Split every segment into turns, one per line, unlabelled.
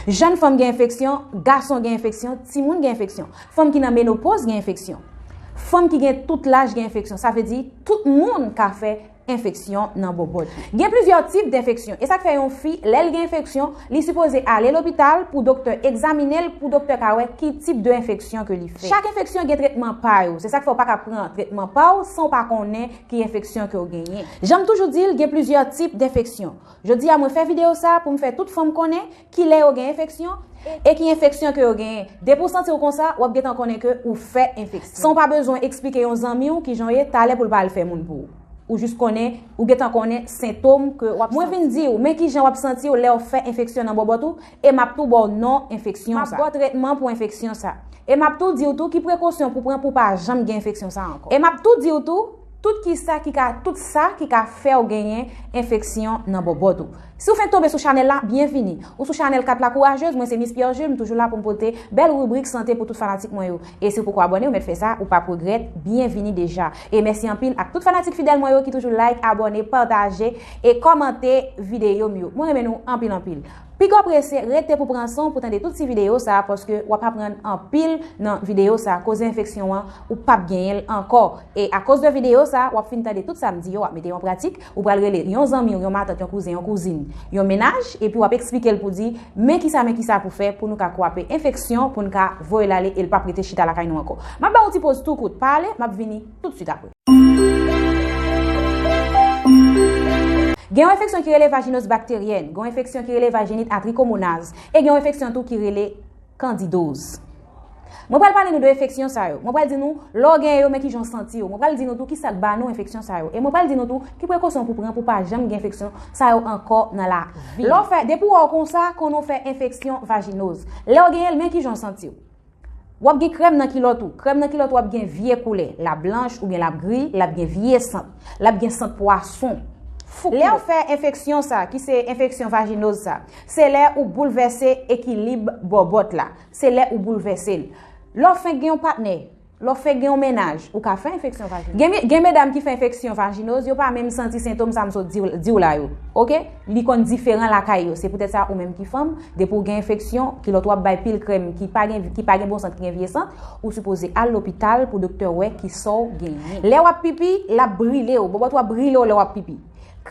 Jèn fanm gen enfeksyon, gason gen enfeksyon, timoun gen enfeksyon. Fanm ki nan menopoz gen enfeksyon. Fanm ki gen tout laj gen enfeksyon. Sa vle di, tout moun ka fè enfeksyon nan bobot. Gen plizyè tip denfeksyon. E sa k fè yon fi, lè l gen enfeksyon, li sipoze ale lopital pou doktè egzaminen l, pou doktè ka wè ki tip de enfeksyon ke li fè. Chak enfeksyon gen tretman pa yo. Se sa k fè ou pa ka pran tretman pa w san ou pa konnen ki enfeksyon ke w genyen. Jan m toujou di l, gen plizyè tip denfeksyon. Jodi a mwen fè video sa pou m fè tout fanm konnen ki lè yo gen enfeksyon e ki enfeksyon ke yo genyen. Depi w santi w konsa, w ap gentan konnen ke ou fè enfeksyon. San w pa bezwen eksplike yon zanmi w kijan w ye talè pou l pa al fè moun pou ou. Ou jis konnen, ou gentan konnen sentom ke w ap santi. Mwen vin di w, men kijan w ap santi w lè w fè enfeksyon nan bòbòt ou, E m ap tou ba w non enfeksyon sa. M ap ba w tretman pou enfeksyon sa. E m ap tou di w tou ki prekosyon pou pran pou w pa janm gen enfeksyon sa ankò. E m ap tou di w tou, tout ki sa ki ka, tout sa ki ka fè w genyen enfeksyon nan bòbòt ou. Si w fenk tonbe sou chanèl la, byenvini. Ou sou chanèl 4 la kourajez, mwen se Mis Pierre Jules, m toujou la pou m pote bèl ribrik sante pou tout fanatik mwen yo. E si w poko abòne, ou mèt fè sa, ou pap regrèt, byenvini deja. E mèsi anpil ak tout fanatik fidèl mwen yo ki toujou like, abòne, pataje e kòmante videyo m yo. Mwen renmen nou anpil anpil. Piga prese rete pou pran sanw pou tande tout ti video sa paske wap aprann anpil nan video sa koze enfeksyon an ou pap genyenl ankò e akoz de video sa wap fin tande tout sam di yo wap mete yon pratik ou pral rele yon zanmiw yon matant yon kouzen yon kouzin yon mennaj epi wap eksplikel pou di men kisa men kisa pou fè pou nou ka kwape enfeksyon poun ka voyel ale el pap rete chita lakay nou ankò map baw yon ti poz tou kout pa ale map vini. tout swit apre. Gen yon enfeksyon ki rele vajinoz bakteryèn, gen yon enfeksyon ki rele vajinit a trikomonaz, e gen yon enfeksyon tou ki rele kandidoz. Mwen pral pale nou de enfeksyon sa yo. Mwen pral di nou lè w gen yo men ki jan w santi yo. Mwen pral di nou tou ki sa k ba nou enfeksyon sa yo. E mwen pral di nou tou ki prekosyon pou pran pou pa janm gen enfeksyon sa yo ankò nan lavi. Lè w fè, depi w wè w konsa, konnen w fè enfeksyon vajinoz. Lè w genyen l men ki jan w santi w. W ap gen krèm nan kilòt ou. Krèm nan kilòt ou ap gen vye koulè. L ap blanch oubyen l ap gri, l ap gen vye sant. L ap gen sant pwason. Fouk kilòt. Lè ou fè enfeksyon sa, ki se enfeksyon vajinoz sa, se lè ou boulvèse ekilib bòbòt la. Se lè ou boulvèse l. Lè w fenk gen yon patnè, lè w fenk gen yon mennaj, ou ka fè enfeksyon vajinoz. Gen medam ki fè enfeksyon vajinoz, yo pa menm santi sentom sa m sot di w la yo. Ok? Li konn diferan lakay yo, se poutèt sa ou menm ki fanm, depi ou gen enfeksyon, kilòt wap bay pil krèm ki pa gen ki pa gen bon sant ki gen vye sant, ou sipoze al lopital pou doktè wè kisaw genyen. Lè wap pipi, lap brilew, bòbòt ou ap brilew lè wap pipi.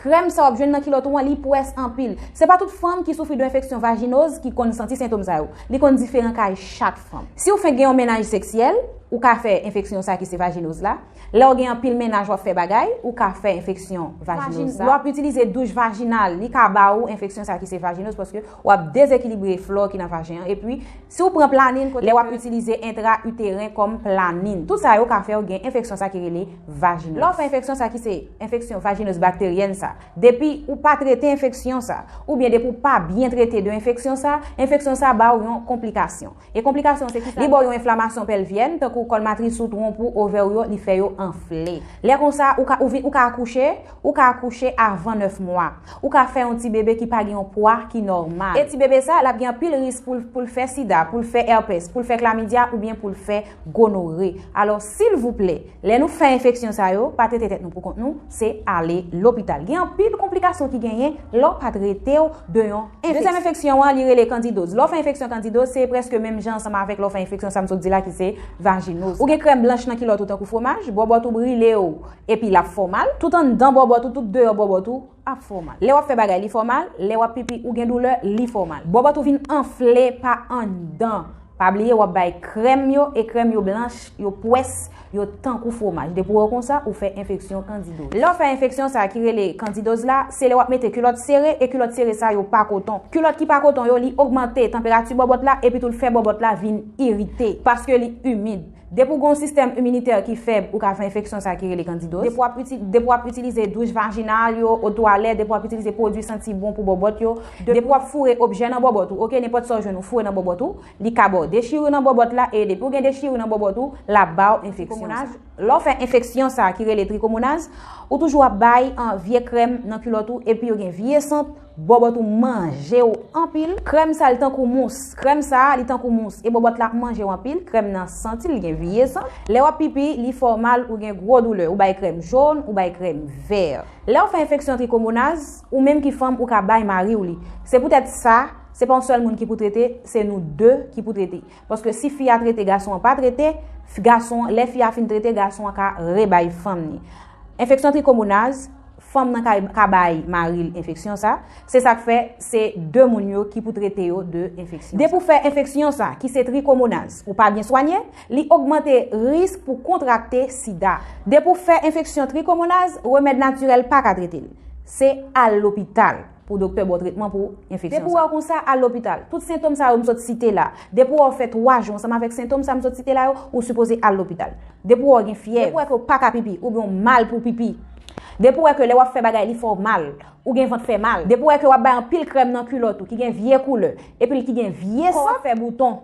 Krèm sa wap jwenn nan kilòt ou an li pwès anpil. Se pa tout fanm ki soufri de enfeksyon vajinoz ki konn santi sentom sa yo. Li konn diferan kay chak fanm. Siw fenk gen yon mennaj seksyèl, ou ka fè enfeksyon sa ki se vajinoz la. Lè w gen anpil mennaj w ap fè bagay, ou ka fè enfeksyon vajinoz sa. Lè w ap itilize douch vajinal, li ka ba ou enfeksyon sa ki se vajinoz paske w ap dezekilibre flò ki nan vajen an. Epi, si w pran planin kote ke. Lè w ap itilize entra iteren kòm planin. Tout sa yo ka fè w gen enfeksyon sa ki rele vajinoz. Lè w fè enfeksyon sa ki se enfeksyon vajinoz bakteryèn sa, depi ou pa trete enfeksyon sa, oubyen depi w pa byen trete de enfeksyon sa, enfeksyon sa ba w yon konplikasyon. E konplikasyon an se kisa? Li ba w yon enflamasyon pèlvyèn, tankou kòl matris ou, twonp ou, ovè ou yo, li fè yo anfle. Lè konsa, ou ka ou vin ou ka akouche, ou ka akouche avan 9 mwa. Ou ka fè yon ti bebe ki pa gen yon pwa ki nòmal. E ti bebe sa, l ap gen anpil risk pou l pou l fè sida, pou l fè èpès, pou l fè klamidya oubyen pou l fè gonore. Alò, silvouplè! Lè nou fè enfeksyon sa yo, pa trete tèt nou poukont nou, se ale lopital. Gen anpil konplikasyon ki genyen lè w pa trete w de yon enfeksyon. Dezyèm enfeksyon an, li rele kandidoz. Lè w fè enfeksyon kandidoz, se prèske menm jan ansanm avèk lè w fè enfeksyon sa m sot di la ki se vajinoz. Ou gen krèm blanch nan kilòt ou tankou fwomaj, bòbòt ou brile w epi l ap fè w mal, tout anndan bòbòt ou, tout deyò bòbòt ou. ap fè w mal. Lè w ap fè bagay li fè w mal, lè w ap pipi ou gen doulè li fè w mal. Bòbòt ou vin anfle pa anndan. Pa bliye w ap bay krèm yo e krèm yo blanch, yo pwès, yo tankou fwomaj. Depi w wè w konsa, ou fè enfeksyon kandidoz. Lè w fè enfeksyon sa ki rele kandidoz la, se lè w ap mete kilòt sere e kilòt sere sa yo pa koton. Kilòt ki pa koton yo li ogmante tanperati bòbòt la epitou l fè bòbòt la vin irite paske li imid. Depi w gen yon sistèm iminitè ki fèb, ou ka fè enfeksyon sa ki rele kandidoz. Depi w ap itilize douch vajinal yo, o twalèt, depi w ap itilize pwodui santi bon pou bòbòt yo, depi w ap foure objè nan bòbòt ou, ok, nenpòt sa w jwenn ou foure nan bòbòt ou, li ka ba w dechirur nan bòbòt la e depi w gen dechirur nan bòbòt ou, l ap ba w enfeksyon sa. Lè w fè enfeksyon sa ki rele trikomonaz, ou toujou ap bay vye krèm nan kilòt ou epi yo gen vye sant, Bòbòt ou manje w anpil. Krèm sa li tankou mous. Krèm sa li tankou mous. E bòbòt la manje w anpil. Krèm nan santi li gen vye sant. Lè w ap pipi, li fè w mal, ou gen gwo doulè. Ou bay krèm jòn, ou bay krèm vè. Lè w fè enfeksyon trikomonaz, ou menm ki fanm ou ka bay mari w li. Se poutèt sa, se pa yon sèl moun ki pou trete, se nou 2 ki pou trete. Paske si fi a trete gason an pa trete, gason an, lè fi a fin trete gason an ka rebay fanm ni. Enfeksyon trikomonaz, Fanm nan kay ka bay mari l enfeksyon sa, se sak fè se 2 moun yo ki pou trete yo de enfeksyon sa. Depi w fè enfeksyon sa ki se trikomonaz ou pa byen swanye, li ogmante risk pou kontrakte sida. Depi w fè enfeksyon trikomonaz, remèd natirèl pa ka trete l. Se al lopital. pou doktè ba w tretman pou enfeksyon sa. Depi w wè w konsa, al lopital. Tout sentom sa yo m sot site la, depi w wè w fè 3 jou ansanm avèk sentom sa m sot site la yo, ou sipoze al lopital. Depi w wè w gen fyèv. Depi w wè ke w pa ka pipi, oubyen w mal pou w pipi. Depi w wè ke lè w ap fè bagay li fè w mal, ou gen vant fè mal. Depi w wè ke w ap bay anpil krèm nan kilòt ou ki gen vye koulè, epi l ki gen vye sant. Kò w ap fè bouton.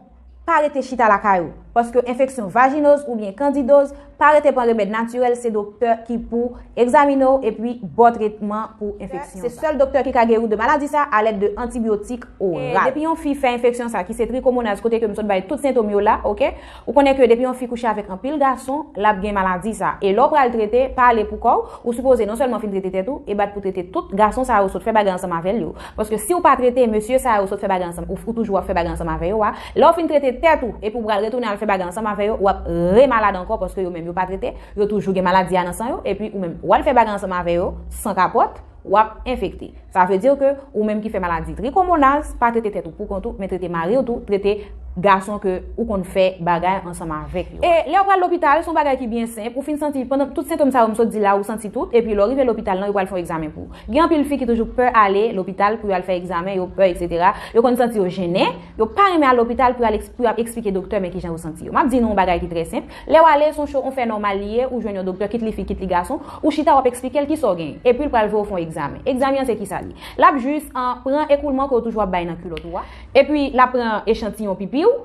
Pa rete chita lakay ou. Paske enfeksyon vajinoz oubyen kandidoz, pa rete pran remèd natirèl se doktè ki pou egzamine w epi baw tretman pou enfeksyon sa. Se sèl doktè ki ka geri w de maladi sa alèd de antibyotik oral. Depi yon fi fè enfeksyon sa ki se trikomonaz kote ke m sot bay tout sentom yo la ok, ou konnen ke depi yon fi kouche avèk anpil gason lap gen maladi sa. E lè w pral trete, pa ale pou kò w, ou sipoze non sèlman fin trete tèt ou e bat pou trete tout gason sa yo sot fè bagay ansanm avèl yo. Paske siw pa trete mesye sa yo sot fè bagay ansanm ou toujou ap fè bagay ansanm avè yo a, lèw fin trete tèt ou epi ou pral retounen al fè bagay ansanm avè yo wap re malad ankò paske yo menm yo pa trete, yo toujou gen maladi a nan san yo epi ou menm wal fè bagay ansanm avè yo san kapòt wap enfekte. Sa vle di ke ou menm ki fè maladi trikomonaz pa trete tèt ou pou kont ou men trete mariw tou, trete gason ke ou konn fè bagay ansanm avèk yo a. E lèw pral lopital son bagay ki byen senp ou fin santi pandan tout sentom sa yo m sot di la ou santi tout epi lèw rive lopital lan yo pral fè yon egzamen pou Gen anpil fi ki toujou pè ale lopital pou yo al fè egzamen, yo pè etc. Yo konn santi yo jennen, yo pa renmen al lopital pou yo ap eksplike doktè men kijan yo santi yo. Map di nou yon bagay ki trè senp, lèw ale son cho on fè nòmal li ye, ou jwenn yon doktè kit li fi kit li gason, ou chita wap eksplikel kisa w genyen, epil pral voye w fon egzamen. Egzamen an se kisa li? Lap jis an pran ekoulman ke w toujou ap bay nan kilòt ou a, epi lap pran echantiyon pipi w,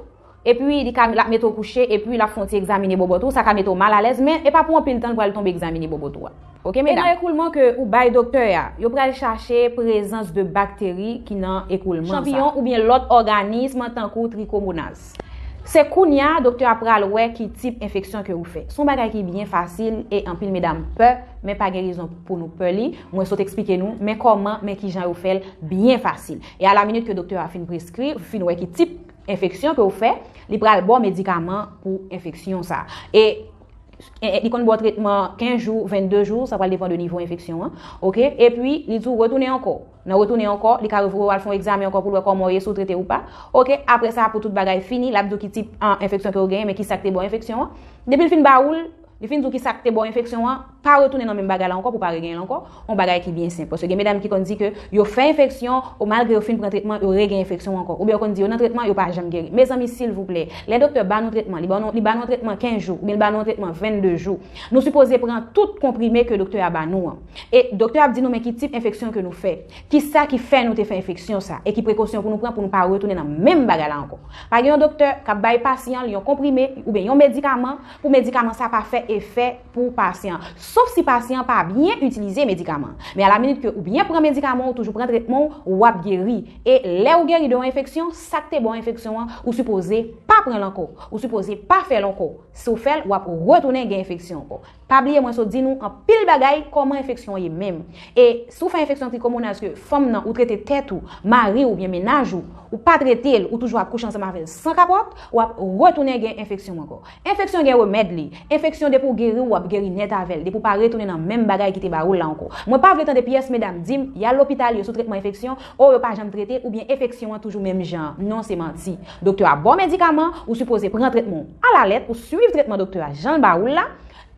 Epi li ka lap mete w kouche epi lap fè yon ti egzamine bobot ou sa ka mete w mal alèz men e pa pou anpil tan l pral tonbe egzamine bobot ou a ok medam. E nan ekoulman ke ou bay doktè a yo pral chache prezans de bakteri ki nan ekoulman sa. Chanpiyon oubyen lòt òganism tankou trikomonaz. Se kounya doktè a pral wè ki tip enfeksyon ke ou fè. Son bagay ki byen fasil e anpil medam pè men pa gen rezon pou nou pè li mwen sot eksplike nou men kòman men kijan yo fè l byen fasil e a la minit ke doktè a fin preskri ou fin wè ki tip enfeksyon ke ou fè, li pral baw medikaman pou enfeksyon sa. E li konn baw tretman 15 jou, 22 jou, sa pral depan de nivo enfeksyon an. Ok, e pi li di ou retounen ankò. Nan retounen ankò, li ka revoye ou al fè yon egzamen ankò pou l wè kòman ou ye, si ou trete ou pa. Ok, apre sa pou tout bagay fini, l ap di ou ki tip enfeksyon ke ou genyen, men ki sa ki te baw enfeksyon an. Depi l fin ba ou l, Li fin di w ki sa k te ba w enfeksyon an, pa retounen nan menm bagay la ankò pou w pa regenyen l ankò, yon bagay ki byen senp. Paske gen medam ki konn di ke yo fè enfeksyon, o malgre yo fin pran tretman, yo regenyen enfeksyon an ankò. Oubyen yo konn di yo nan tretman, yo pa janm geri. Mezanmi silvouplè, lè doktè ba nou tretman, li ba nou li ba nou yon tretman 15 jou, oubyen li ba nou yon tretman 22 jou, nou sipoze pran tout konprime ke doktè a ba nou an. E doktè a ap di nou men ki tip enfeksyon ke nou fè, ki sa ki fè nou te fè enfeksyon sa, e ki prekosyon pou nou pran pou nou pa retounen nan menm bagay la ankò. Pa gen yon doktè k ap bay pasyan l yon konprime, oubyen yon medikaman, pou medikaman sa pa fè efè pou pasyan an. Sof si pasyan an pa byen itilize medikaman an. Men a la minit ke ou byen pran medikaman ou toujou pran tretman ou, ou ap geri. E lè ou geri de yon enfeksyon, sa k te ba w enfeksyon an, ou sipoze pa pran l ankò. Ou sipoze pa fè l ankò. Si w fè l, w ap retounen gen enfeksyon ankò. Pa bliye mwen sot di nou anpil bagay kòman enfeksyon ye menm. E si w fè enfeksyon trikomonaz ke fanm nan ou trete tèt ou, mari w oubyen mennaj ou, ou pa trete l, ou toujou ap kouche ansanm avè l san kapòt, Wap retounen gen enfeksyon ankò. Enfeksyon gen remèd li. Enfeksyon depi w geri w wap geri nèt avè l depi w pa retounen nan menm bagay ki te ba ou l la ankò. Mwen pa vle tande pyès medam di m y al lopital yo sou tretman enfeksyon oh yo pa janm trete oubyen efeksyon an toujou menm jan an. Non se manti. Doktè a ba w medikaman ou sipoze pran tretman w a la lèt ou swiv tretman doktè a jan l ba ou l la.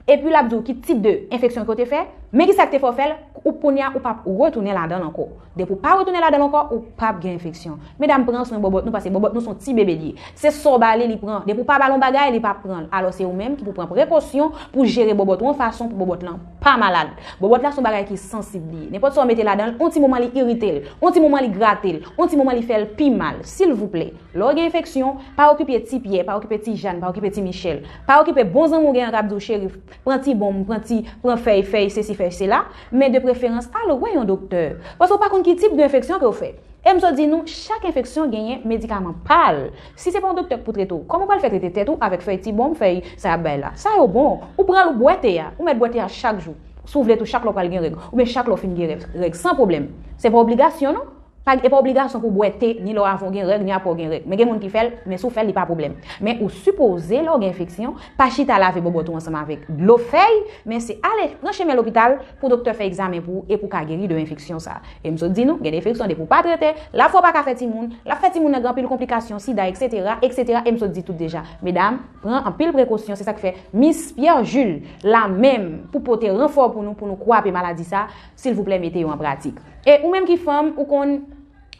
Epi lap diw ki tip de enfeksyon ke w te fè, men kisa ki te fè w fè l, ou kounye a ou pap retounen ladan l ankò. Depi w pa retounen ladan l ankò, ou pap gen enfeksyon. Medam pran swen bòbòt nou paske bòbòt nou son ti bebe li ye. Se sa w ba li li pran, depi w pa ba l yon bagay li pa pran l. Alò se ou menm ki pou pran prekosyon pou w jere bòbòt ou yon fason pou bòbòt lan pa malad. Bòbòt la son bagay ki sansib li ye. Nenpòt sa w mete ladan l, yon ti moman li irite l, yon ti moman li grate l, yon ti moman li fè l pi mal. Silvouplè, lè w gen enfeksyon, pa okipe ti Pyè, pa okipe ti Jan, pa okipe ti Michèl. Pa okipe bon zanmi w gen an kap di w cheri pran ti bonm, pran ti, pran fèy, fèy sesi fèy sela, men de preferans al wè yon doktè. Paske w pa konn ki tip de enfeksyon ke w fè. E m so di nou, chak enfeksyon genyen medikaman pa l. Si se pa yon doktè k pou trete w, kòman w pral fè trete tèt ou avèk fèy ti bonm, fèy sa y ap bay la. Sa yo bon. Ou pran l ou bwè te a. Ou mèt bwè te a chak jou. Si w vle tou chak lè w pral gen règ. Oubyen chak lè w fin gen règ. San pwoblèm. Se pa obligasyon non. Pa gen, e pa obligasyon pou bwè te ni lè w avan w gen règ ni apre w gen règ. Men gen moun ki fè l, men si w fè l li pa pwoblèm. Men ou sipoze lè w gen enfeksyon, pa chita lave bobot ou ansanm avèk dlo fèy, men se ale pran chemen lopital pou doktè fè egzamen pou ou e pou w ka geri de enfeksyon sa. E m sot di nou, gen de enfeksyon depi w pa trete, lap fè w pa ka fè timoun, lap fè timoun nan gen anpil konplikasyon, sida eksetera, eksetera e m sot di tout deja. Medam, pran anpil prekosyon, se sa k fè Miss Pierre Jules la menm pou pote ranfò pou nou pou nou kwape maladi sa, Silvouplè mete yo an pratik. E ou menm ki fanm ou konn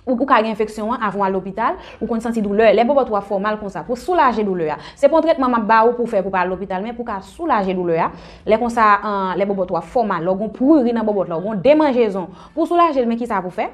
ou ka gen enfeksyon an avan w al lopital, ou konn santi doulè, lè bòbòt ou ap fè w mal konsa, pou soulaje doulè a. Se pa yon tretman m ap ba ou pou w fè pou w pa al lopital men pou w ka soulaje doulè a, lè konsa lè bòbòt ou ap fè w mal, lè w gen yon pruri nan bòbòt la, ou gen yon demanjezon, pou w soulaje l men kisa pou w fè?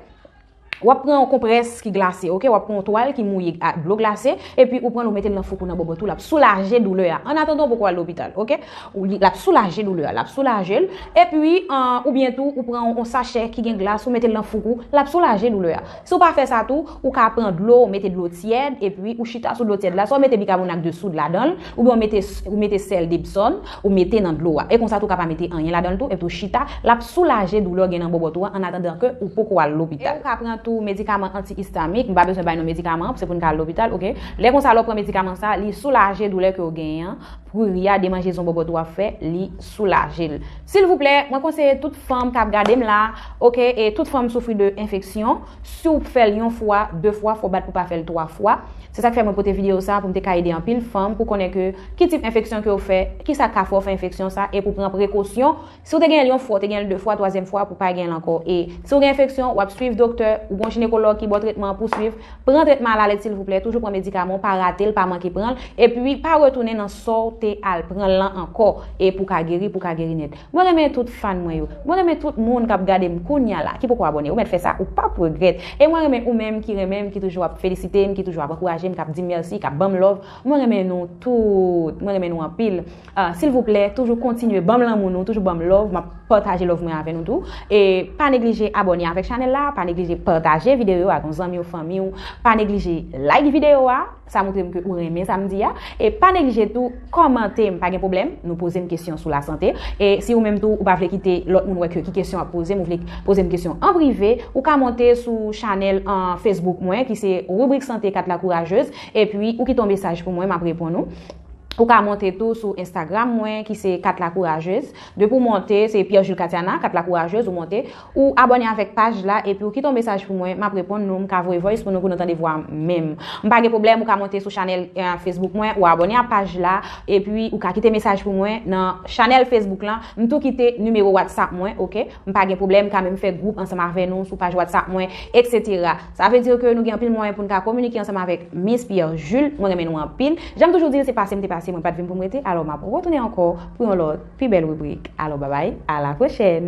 Wap pran yon konprès ki glase ok, wap pran yon twal ki mouye ak dlo glase epi ou pranl ou metel nan foukou nan bobot ou lap soulaje doulè a an atandan ou poko al lopital ok ou li lap soulaje doulè a lap soulajel epi an oubyen tou ou pran yon sachè ki gen glas ou metel nan foukou lap soulaje doulè a si ou pa fè sa tou ou ka pran dlo ou mete dlo tyèd epi ou chita sou dlo tyèd la swa ou mete bikabonat de soud ladanl oubyen ou mete ou mete sèl depsòm Ou mete nan dlo a. E konsa tou ka pa mete anyen ladan l tou epi w chita, l ap soulaje doulè w gen nan bòbòt ou an annatandan ke ou poko al lopital. E ou ka pran tou medikaman anti-istamik, m pa bezwen bay non medikaman an pou se pou n ka al lopital ok. Lè konsa lè w pran medikaman sa, li soulaje doulè ke w genyen an, pruri a, demanjezon bòbòt ou ap fè, li soulaje l. Silvouplè, mwen konseye tout fanm k ap gade m la ok e tout fanm soufri de enfeksyon, Si w fè l yon fwa, de fwa, fò w bat pou w pa fè l twa fwa. Se sak fè mwen pote video sa pou m te ka ede anpil fanm pou konnen ke ki tip enfeksyon ke w fè, ki sa k ka fè w fè enfeksyon sa e pou w pran prekosyon si w te genyen l yon fwa w te genyen l de fwa twazyèm fwa pou w pa genyen l ankò e si w gen enfeksyon w ap swiv doktè ou gon jinekològ ki ba w tretman pou w swiv pran tretman alalèt silvouplè toujou pran medikaman w pa rate l pa manke pran l epi pa retounen nan sa w te al pran l lan ankò e pou w ka geri pou w ka geri nèt. Mwen renmen tout fan mwen yo. Mwen renmen tout moun kap gadem kounya la ki poko abone ou mèt fè sa ou pap regrèt e mwen renmen ou menm ki renmenm ki toujou ap felisitem ki toujou ap ankourajem kap dim merci kap banm love mwen renmen nou tout mwen renmen nou anpil ahh silvouplè toujou kontinye banm lanmou nou toujou banm love map pataje love mwen avè nou tou e pa neglije abone avèk chanèl la pa neglije pataje video yo ak yon zanmiw fanmiw pa neglije like video a. Sa moutre m ke ou renmen sa m di a. E pa neglije tou kòmante m pa gen pwoblèm. Nou poze m kesyon sou lasante. E si ou menm tou ou pa vle kite lòt moun wè ke ki kesyon w ap poze m ou vle poze m kesyon an prive, ou ka monte sou chanèl an Facebook mwen ki se Ribrik Sante 4 Lakourajeuz epi ou kite yon mesaj pou mwen m ap reponn ou. Ou ka monte tou sou Instagram mwen ki se 4 Lakourajeuz. Depi w monte, se Pierre Jules Catiana, 4 Lakourajeuz, ou monte. Ou abone avek paj la epiw kite yon mesaj pou mwen map reponn nou mka voye voice pou nou pou nou tande vwam menm mpa gen pwoblem ou ka monte sou chanel Facebook mwen ou abone a paj la epi ou ka kite mesaj pou mwen nan chanel Facebook lan mtou kite nimero WhatsApp mwen ok mpa gen pwoblem mka menm fè group ansanm avè nou sou paj WhatsApp mwen etc sa vle dir ke nou gen anpil mwayen poun ka kominike ansanm avek Miss Pierre Jules mwen renmen nou anpil janm toujou dil se pase mte pase mwen pat vin poum rete alò map retounen ankò pou yon lòt Pi bèl ribrik. Alò babay, a la pwochèn!